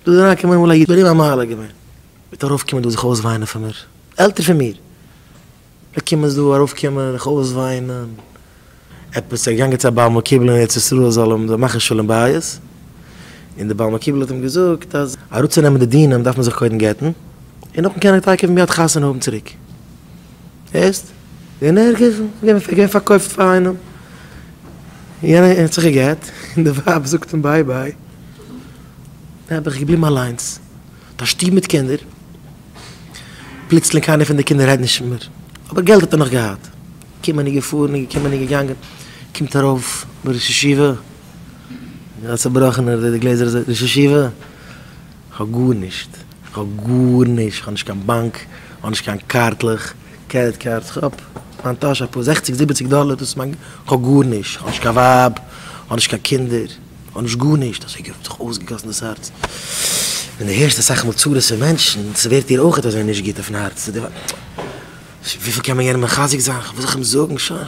דא איז אריינגעקומען איינמאל א איד ביי אים א מעלה געווען, מיט ארויפקומען דא זיך אויסוויינען פון מיר, עלטער פון מיר, לקומות דא ארויפקומען זיך אויסוויינען, עפעס ער איז געגאנגען צו א בעל מקובל אין ארץ ישראל זאל אים זאל מאכן שלום בית, און דער בעל מקובל האט אים געזאגט אז אראפצונעמען די דינים דארף מען זיך קודם גט'ן, און נאכדעם קען ער טאקע מיד חתונה האבן צוריק, הערסט? אין ערגער געווען ווען עס איז געווען פארקויפט פאר איינעם, יענער האט זיך גע'גט, און די ווייב זאגט אים ביי ביי, און האט זיך געבליבן אליינס, מיט א שטוב מיט קינדער, פלוצלינג קיינער פון די קינדער רעדט נישט מער, אבער געלט האט ער נאך געהאט, געקומען און געפארן, געקומען און געגאנגען, קומט ארויף דער ראש ישיבה, א צובראכענער, די גלעזער אזוי, ראש ישיבה, כ'האב גארנישט. כ'האב גארנישט, כ'האב נישט קיין באנק, כ'האב נישט קיין קארטלעך, קרעדיט קארדס, כ'האב אין מיין טאש אפאר זעכציג זיבעציג דאלער, דאס איז מיין, כ'האב גארנישט, כ'האב נישט קיין ווייב, כ'האב נישט קיין קינדער, כ'האב נישט גארנישט, אזוי האט זיך אויסגעגאסן דאס הארץ, ווען דו הערסט אסאך מאל צרות פון מענטשן, ס'ווערט דיר אויך אזוי נישט גוט אויפן הארץ, וויפיל קען מען יענעם מחזק זיין, וואס זאל איך אים זאגן, שוין.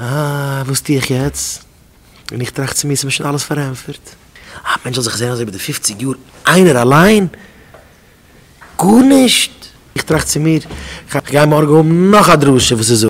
אה, וואס טו איך יעצט? און איך טראכט צו מיר, ס'מיר שוין אלעס פארענטפערט. א מענטש זאל זיך זען אזוי ביי די פופציג יאר איינער אליין? גארנישט! איך טראכט צו מיר, כ'גיי מארגן האבן נאך א דרשה וואס איז.